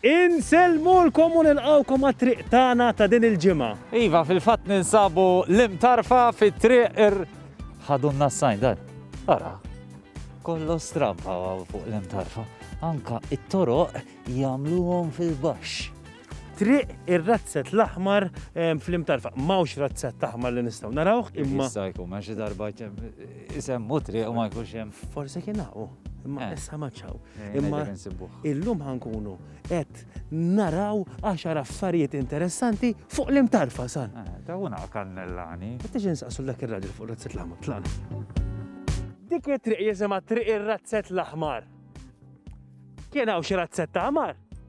Insellmulkom u nilqgħukom għat-triq tagħna ta' din il-ġimgħa. Iva, fil-fatt ninsabu l-imtarfa fit-triq ir. Ħadunna s-sajn dan. Ara, kollox stramb hawn hawn fuq l-imtarfa. Anke t-toroq jagħmluhom fil-baxx. Triq ir-razzett l-aħmar fl-imtarfa. M'hawnx razzett aħmar li nistgħu narawh, imma. Jista' jkun, ma xi darba isemmu triq u ma jkunx hemm. Forsi kien hawn, imma issa m'għadx hawn. Imma illum ħankunu qed naraw għaxar affarijiet interessanti fuq l-imtarfa san. Eh, ta' una kannellani. Qed insaqsu dak ir-raġel fuq razzet l-aħmar tlana. Dik it-triq jisimha triq ir-razzet l-aħmar. Kien hawn xi razzet ta' aħmar?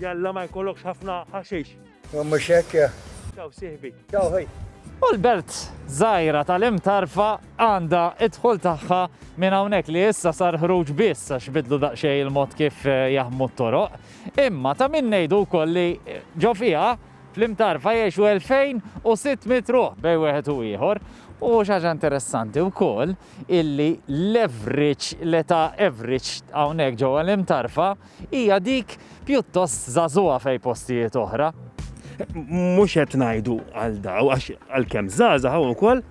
Jalla ma jkollokx ħafna ħaxix. Mhux hekk. Ciao sieħbi. Ciao ħej. U l-belt żgħira tal-imtarfa għandha id-dħul tagħha minn hawnhekk li issa sar ħruġ biss għax bidlu daqsxejn il-mod kif eh, jaħmu t-toroq. Imma ta' min ngħidu wkoll li eh, ġo fiha fl-imtarfa jgħixu 2600 ruħ bej wieħed u ieħor. U xaġa interessanti u koll illi l-average, l-età average għawnek ġo l-imtarfa hija dik pjuttost żagħżugħa f'hej postijiet oħra. Mhux qed ngħidu għal daw għax għalkemm żgħażagħ hawn ukoll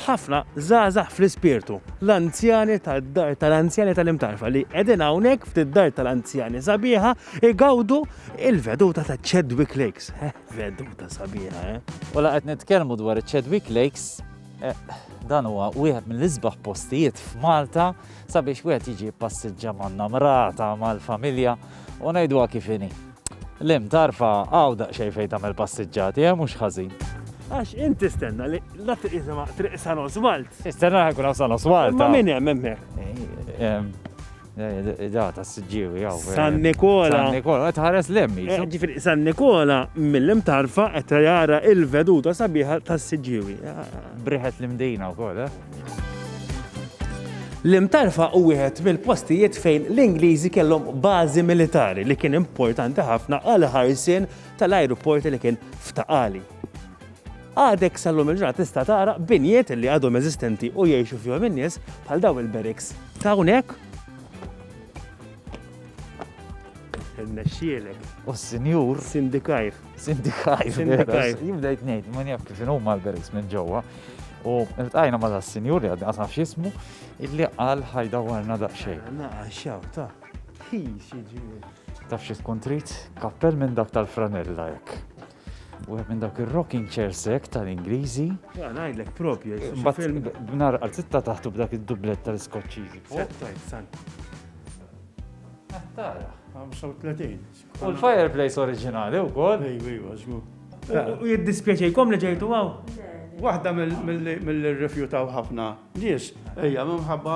ħafna żgħażagħ fl-ispirtu, l-anzjani tad-dar tal-anzjani tal-imtarfa li qegħdin hawnhekk ftit dar tal-anzjani sabiħa igawdu il-veduta ta' Chadwick Lakes. Eh, veduta sabiħa, eh? U la qed nitkellmu dwar Chadwick Lakes Dan huwa wieħed mill-isbaħ postijiet f'Malta sabiex wieħed jiġi jippassiġġa man-namrata, mal-familja u ngħiduha kif inhi. L-hemm tarfa hawn daqsxejn fejn tagħmel passiġġati, eh mhux ħażin. Għax inti stenna li la tiqisima triq San Oswald. Istenna ħajkun hawn San Oswald. Ma min hemm hemmhekk? Da, ta' s-sġiwi, jaw. San Nikola. San Nikola, tħares lemmi. Eh, ġifiri, San Nikola mill-lim tarfa qed jara il-veduta sabiħa ta' s-sġiwi. Briħet l-imdina u kol, eh? Lim tarfa u wieħed mill-postijiet fejn l-Ingliżi kellhom bażi militari li kien importanti ħafna għal ħarsien tal-ajruporti li kien ftaqali. Għadek sal-lum il-ġurnata tista' tara binjiet li għadhom eżistenti u jgħixu fihom in-nies bħal daw il-beriks ta' hawnhekk. Nexxielek. U s-sinjur. Sindikajr. Sindikajr. Sindikajr. Jibdejt ngħid, ma jaf kif inhu mal-beriks minn ġewwa. U l-tajna ma da' s-sinjur li għaddi għasaf xismu, illi għal ħajda warna da' xej. Naqa, xaw, ta' hi xieġi. Taf xie tkun trit, kappell minn dak tal-franella jek. Wieħed minn dawk ir-rocking chairs hekk tal-Ingliżi. Ah, ngħidlek propju, film b'nar għal sitta taħtu b'dak id-dublett tal-Iskoċċiżi. Tara, 35. U l-fireplace oriġinali wkoll. Ejwa, ejwa, żgur. U jiddispjaċejkom li ġejtu għaw? Waħda mill-rifjutaw ħafna nies, ejja, minħabba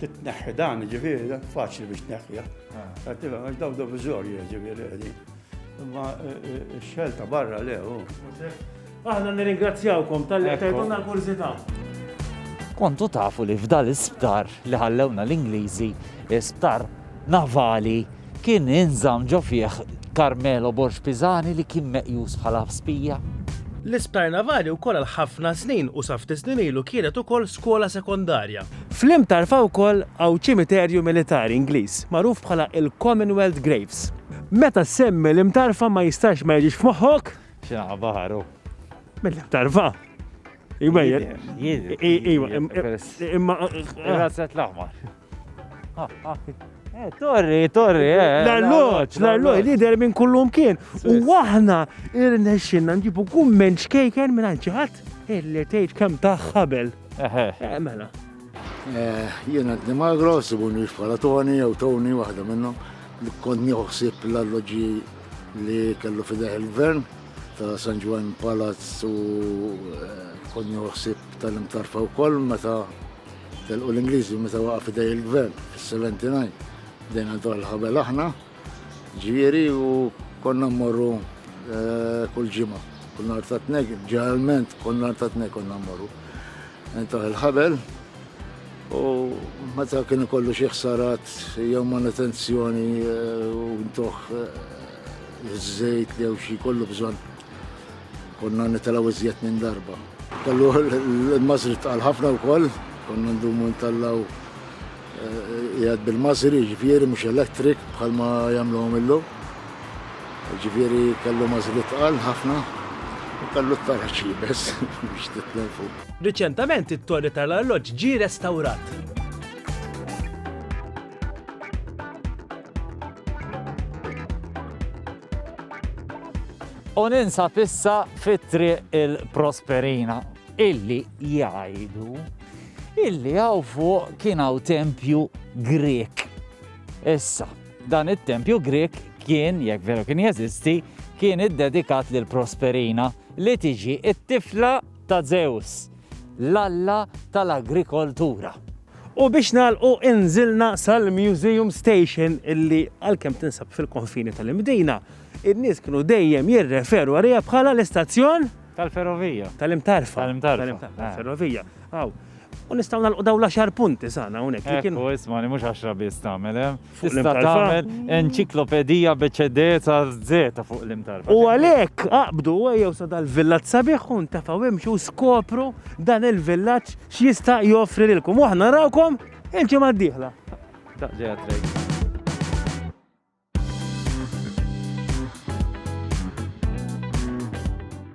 Titneħħi dan, ġifieri, faċli biex tneħħiha. Għattiva, għax daw dovizorji, ġifieri, għedi. Imma eh, eh, xelta barra le, u. Aħna nirringrazzjawkom tal-li tajtuna l-kurzita. Kontu tafu li f'dal isptar li ħallewna l-Ingliżi, isptar Navali kien inżamm ġo fih Carmelo Borg Pisani li kien meqjus bħala spija. L-Isptar Navali wkoll għal ħafna snin u sa ftit snin ilu kienet ukoll skola sekondarja. Fl-Imtarfa wkoll hawn ċimiterju militari Ingliż magħruf bħala il-Commonwealth Graves. Meta ssemmi l-Imtarfa ma jistax ma jiġix f'moħħok? Xi naħa baħar hu. Mill-Imtarfa. Iwa, iwa, imma. Razzet l-aħmar. Eh, torri, torri, eh. L-arloċ, l-arloċ, lider minn kullum kien. U aħna irnexxinna nġibu kumment xkejken minn ċaħat, illi tgħid kemm taħħabel. Eh, mela. Eh, jiena d-dimagro, sibuni bħala Tony jew Tony waħda minnhom, kont nieħu l-alloġi li kellu fideħ il-gvern. ta' San Ġwan Palazz u eh, konni uħsib tal-imtarfa u koll meta telqu l-Ingliżi meta waqa' fidej il-gvern fis-79. Dejna dwar l-ħabel aħna, ġieri u konna mmorru eh, kull ġimgħa. Kull nhar ta' tnek, ġeneralment kull nhar ta' tnek konna mmorru. Intaħ il-ħabel u meta kien ikollu xi ħsarat jew manutenzjoni eh, u ntuħ Iż-żejt jew xi kollu bżonn konna nitalaw iżjed minn darba. Kellu l-mażri tqal ħafna wkoll, konna ndumu ntallaw eh, jgħad bil-mażri, ġifieri mhux elektrik bħalma jagħmluhom illum. Ġifieri kellu mażri tqal ħafna u kellu t-tarħ bes biex titlel fuq. Riċentament it-torri tal-arloġġ ġie restawrat. U ninsab issa fit-triq il-Prosperina, illi jgħidu illi għaw fuq kien għaw tempju Grek. Issa, dan it-tempju Grek kien, jekk veru kien jeżisti, kien iddedikat lil Prosperina li tiġi it-tifla ta' Żews, l-alla tal-agrikoltura. U biex nagħlqu inżilna sal-Museum Station illi għalkemm tinsab fil-konfini tal-Imdina, in-nies kienu dejjem jirreferu għaliha bħala l-istazzjon Tal-ferrovija. tal-imtarfa. Tal-imtarfa. Tal-ferrovija. Aw. U nistgħu nagħlqu dawn l-għaxar punti sana hawnhekk li kienu. Ekku, isma' li mhux għaxra biss tagħmel, eh? fuq l-im Tista' tarfa. tagħmel enċiklopedija b'eċedeca żżeta fuq l-im tarfa. U għalhekk aqbdu ejjew sa dal-villaġġ sabiħ u ntefgħu imxu u skopru dan il-villaġġ x'jista' joffri lilkom. U aħna narawkom il-ġimgħa d-dieħla. Ta' ġejja trejn.